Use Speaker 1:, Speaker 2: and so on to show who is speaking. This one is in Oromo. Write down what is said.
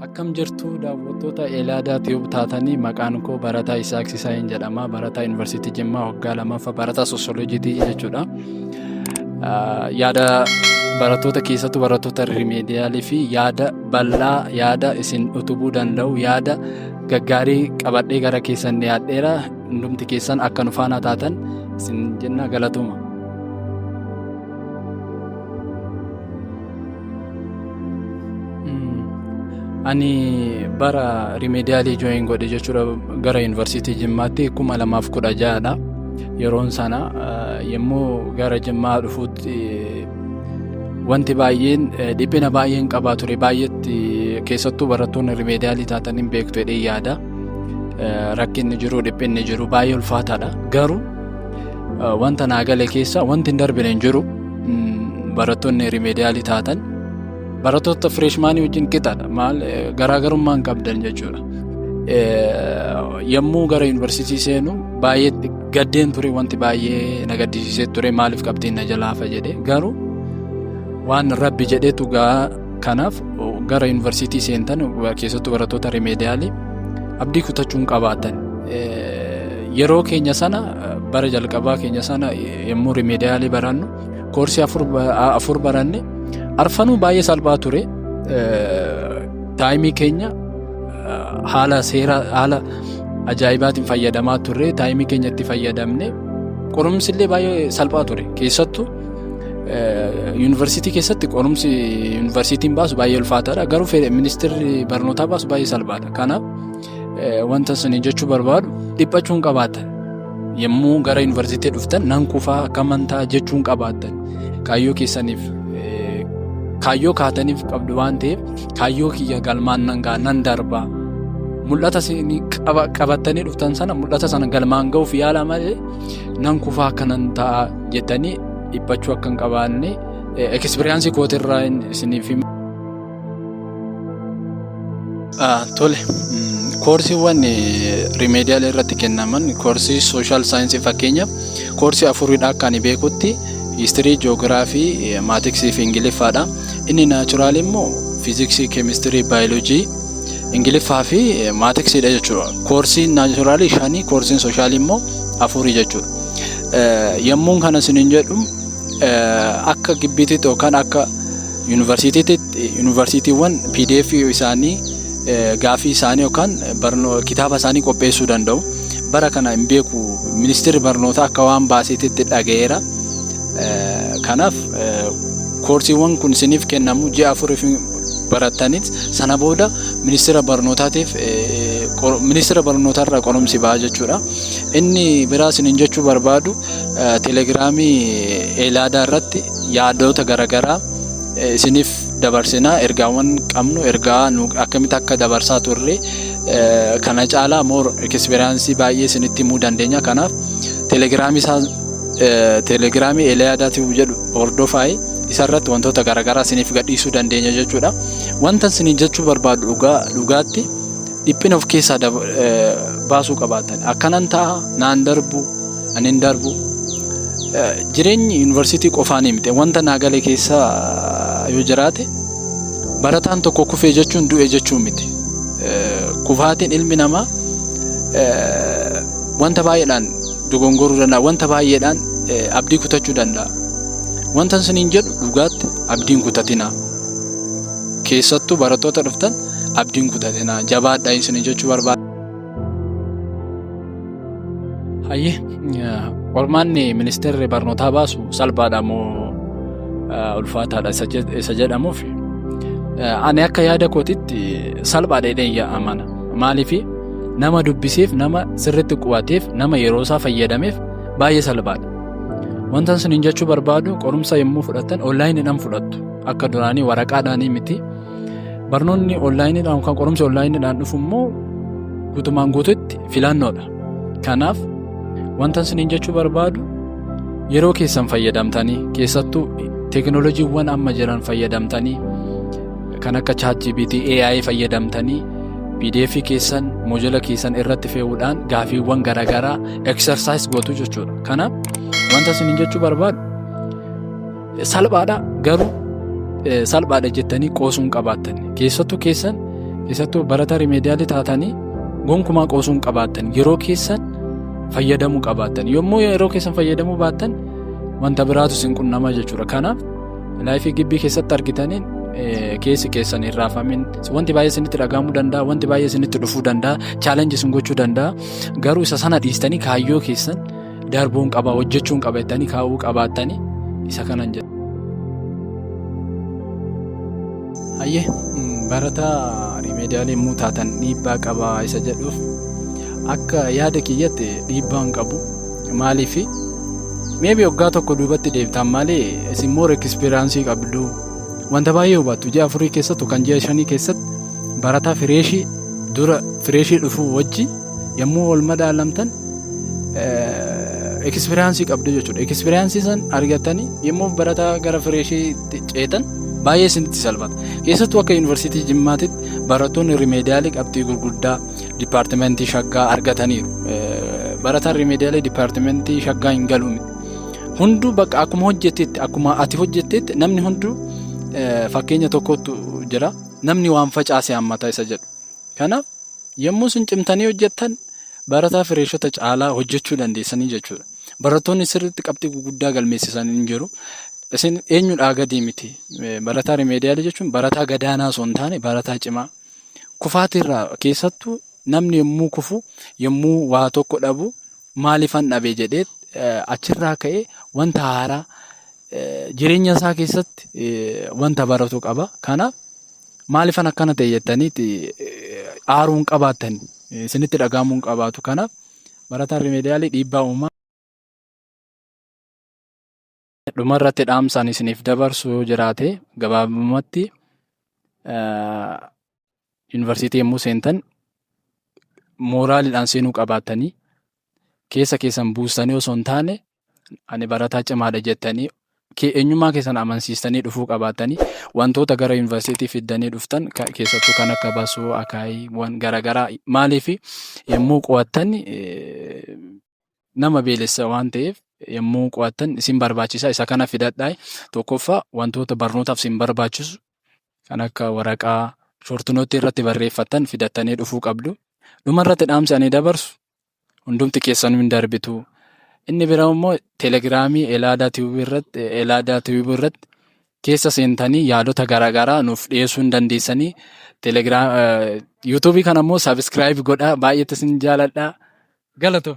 Speaker 1: Akkam jirtu daawwattoota Elaadaa Tiyuub taatanii maqaan koo barataa Isaaq Sisaayin jedhama. Barataa Yuunivarsiitii Jimmaa waggaa lammaffaa barataa soosiyoloojiitii jechuudha. Yaada barattoota keessattuu barattoota rimeediyaalii fi yaada bal'aa yaada isin utubuu danda'u yaada gaggaarii qabadhee gara keessan dhiyaadheera. Hundumti keessan akka nu faana taatan isin jenna galatuma. ani bara rimeediyaalii jooyin godhe jechuudha gara yuunivarsiitii jimmaatti kuma lamaaf kudha ja'adha yeroon sana yommuu gara jimmaa dhufuutti wanti baay'een dhiphina baay'een qabaa ture baay'eetti keessattuu barattoonni rimeediyaalii taatan hin beektu jedhee yaada rakkinni jiru dhiphinni jiru baay'ee ulfaataadha garuu Wanta naa gale keessa wanti hin darbine hin jiru. Barattoonni rimeediyaalii taatan barattoota fireeshmaanii wajjin qixadha. Maal garaagarummaa hin qabdan jechuudha. Yommuu gara yuunivarsiitii seenu baay'ee gaddeen ture wanti baay'ee na gaddisiisee ture maaliif qabxiin na jalaafa jedhee garuu waan rabbi jedhetu gaa Kanaaf gara yuunivarsiitii seentan keessattuu barattoota rimeediyaalii abdii kutachuun qabaatan yeroo keenya sana bara jalqabaa keenya sana yommuu rimeediyaalii barannu koorsii afur baranne arfanuu baay'ee salphaa ture taayimii keenya haala seera haala ajaa'ibaatiin fayyadamaa turre taayimii keenya itti fayyadamne qorumsi illee baay'ee salphaa ture keessattuu Yuunivarsiitii keessatti qorumsi yuunivarsiitiin baasu baay'ee ulfaataadha. Garuu ministeerri barnootaa baasu baay'ee salphaadha. Kanaaf wanta isin jechuu barbaadu dhiphachuun qabaatan yommuu gara yuunivarsiitii dhuftan nan kufaa akka amantaa jechuun qabaatan kaayyoo keessaniif kaayyoo kaataniif qabdu waan ta'eef kaayyoo kiyya galmaan nan ga'a nan darbaa mul'ata isin qabattanii dhuftan sana mul'ata sana galmaan ga'uuf yaala malee nan kufaa akka nan ta'a. jettanii dhiphachuu akka hin qabaanne ekspiriyaansii kootirraa isiniif hima. Tole koorsiiwwan rimeediyaal irratti kennaman koorsii sooshaal saayinsii fakkeenyaaf koorsii afuridha akka ani beekutti histirii joogiraafii maatiksii fi ingiliffaadha inni naachuraal immoo fiiziksii keemistirii baayoloojii ingiliffaa fi maatiksiidha jechuudha koorsiin naachuraalii shanii koorsiin sooshaal immoo afurii jechuudha. Yommuun kana isiniin jedhu akka gibbiititti yookaan akka yuunivarsiitiiwwan pdf isaanii gaafii isaanii yookaan kitaaba isaanii qopheessuu danda'u. Bara kana hin beeku ministeerri barnootaa akka waan baaseetitti dhaga'eera. Kanaaf koorsiiwwan kun isiniif kennamu ji'a afuriif barattaniis sana booda ministeera barnootaatiif ministeera barnootaarraa qorumsi ba'a jechuudha. Inni biraa isinin jechuu barbaadu telegiraamii eelaadaa irratti yaadoota garaagaraa isiniif dabarsinaa ergaawwan qabnu ergaa nu akkamitti akka dabarsaa turre kana caalaa moor ekisperiyaansii baay'ee isinitti himuu dandeenya kanaaf telegiraamii isaa telegiraamii eelaadaa tiwuu jedhu hordofaayi isarratti wantoota garaagaraa isiniif gadhiisuu dandeenya jechuudha wanta isiniin jechuu barbaadu dhugaa dhugaatti Dhiphina of keessaa dab- eh, baasuu qabaatan akkanan ta'a naan darbu ani hin darbu Eh, jireenyi yuunivarsiitii qofaanii miti wanta naa gale keessa eh, yoo jiraate barataan tokko kufee jechuun du'e jechuun miti Eh, kufaatiin ilmi namaa eh, wanta baay'eedhaan dogongoruu danda'a wanta baay'eedhaan eh, abdii kutachuu danda'a wanta isiniin jedhu dhugaatti abdiin kutatinaa keessattuu barattoota dhuftan abdiin kutatinaa jabaadha isin jechuu barbaada. Hayyee qormaanni ministeerri barnootaa baasu salphaadha moo ulfaataadha isa jedhamuuf ani akka yaada kootitti salphaadha jedheen yaa amana maaliif nama dubbiseef nama sirriitti qubateef nama yeroo isaa fayyadameef baay'ee salphaadha. Wanta isin jechuu barbaadu qorumsa yommuu fudhattan onlaayiniidhaan fudhattu akka duraanii waraqaadhaanii miti Barnoonni onlaayiniidhaan kan qorumsi onlaayiniidhaan dhufu immoo guutumaan guututti filannoodha. Kanaaf wanta isiniin jechuu barbaadu yeroo keessan fayyadamtanii keessattuu teekinooloojiiwwan amma jiran fayyadamtanii kan akka ChatGPT AI fayyadamtanii PDF keessan moojila keessan irratti fe'uudhaan gaafiiwwan garaagaraa exercise gootu jechuudha. Kanaaf wanta isiniin jechuu barbaadu Salphaadha garuu salphaadha jettanii qoosuun qabaattan keessattuu keessan keessattuu barataa rimeediyaalii taatanii gonkumaa qoosuun qabaattan yeroo keessan fayyadamuu qabaattan yommuu yeroo keessan fayyadamuu baattan wanta biraatu isin qunnamaa jechuudha kanaaf laayifii gibbii keessatti argitaniin keessi keessan hin raafamin wanti baay'ee isinitti dhagahamuu danda'a wanti baay'ee isinitti dhufuu danda'a chaalenji isin gochuu danda'a garuu isa sana dhiistanii kaayyoo keessan. darbuun qaba hojjechuun qaba jettanii kaa'uu qabaattanii isa kanan jedhu. Hayyee barata rimeediyaalii immoo taatan dhiibbaa qaba isa jedhuuf akka yaada kiyyatti dhiibbaan qabu maaliif meebi waggaa tokko duubatti deebtaan malee isin immoo ekspiraansii qabdu wanta baay'ee hubattu ji'a afurii keessattu kan ji'a shanii keessatti barataa fireeshii dura fireeshii dhufuu wajji Yommuu wal madaalamtan ekspiriyaansii qabdu jechuudha. Ekspiriyaansii san argatanii yommuu barataa gara fireeshiitti ceetan baay'ee isinitti salphata. Keessattuu akka yuunivarsiitii Jimmaatitti barattoonni rimeediyaalii qabxii gurguddaa dipaartimentii shaggaa argataniiru. Barataan rimeediyaalii dipaartimentii shaggaa hin galu miti. Hunduu bakka akkuma hojjettetti akkuma ati hojjettetti namni hunduu fakkeenya tokkotu jira. Namni waan facaase hammata isa jedhu. Kanaaf, yommuu isin cimtanii hojjettan barataa fireeshota caalaa hojjechuu dandeessanii jechuudha. Barattoonni sirriitti qabxii guguddaa galmeessisan hin jiru. Isin eenyudhaa gadii miti. Barataa rimeediyaalii jechuun barataa gadaanaa osoo hin taane barataa cimaa. Kufaatiirraa keessattuu namni yommuu kufu, yommuu waa tokko dhabu maaliifan dhabe jedhee achirraa ka'ee wanta haaraa jireenya isaa keessatti wanta baratu qaba. Kanaaf Maalifan akkana ta'e jettaniiti aaruu hin qabaattan isinitti dhaga'amuu hin qabaatu. Kanaaf barataan rimeediyaalii dhiibbaa uumaa. Dhumarratti dhaamsaan isiniif dabarsu yoo jiraate gabaabumatti yuunivarsiitii yommuu seentan mooraaliidhaan seenuu qabaattanii keessa keessan buustanii osoo hin taane ani barataa cimaadha jettanii ke- eenyummaa keessan amansiistanii dhufuu qabaatanii wantoota gara yuunivarsiitii fiddanii dhuftan ka- keessattuu kan akka basoo akaayiiwwan garaagaraa maaliif yommuu qo'attan eh, nama beelessa waan ta'eef yommuu qo'attan isin barbaachisa isa kana fidadhaa tokkoffaa wantoota barnootaaf isin barbaachisu kan akka waraqaa shortinootti irratti barreeffattan fidattanii dhufuu qabdu dhumarratti dhaamsi ani dabarsu hundumti keessanuu hin darbitu. Inni biraa immoo telegiraamii Elaadaa Tiwubii irratti Elaadaa Tiwubii irratti keessa seentanii yaadota garaagaraa nuuf dhiyeessuu hin dandeessanii. Telegiraam yuutuubii kana immoo sabiskiraayib godhaa baay'eetti isin jaaladha. Galatoo.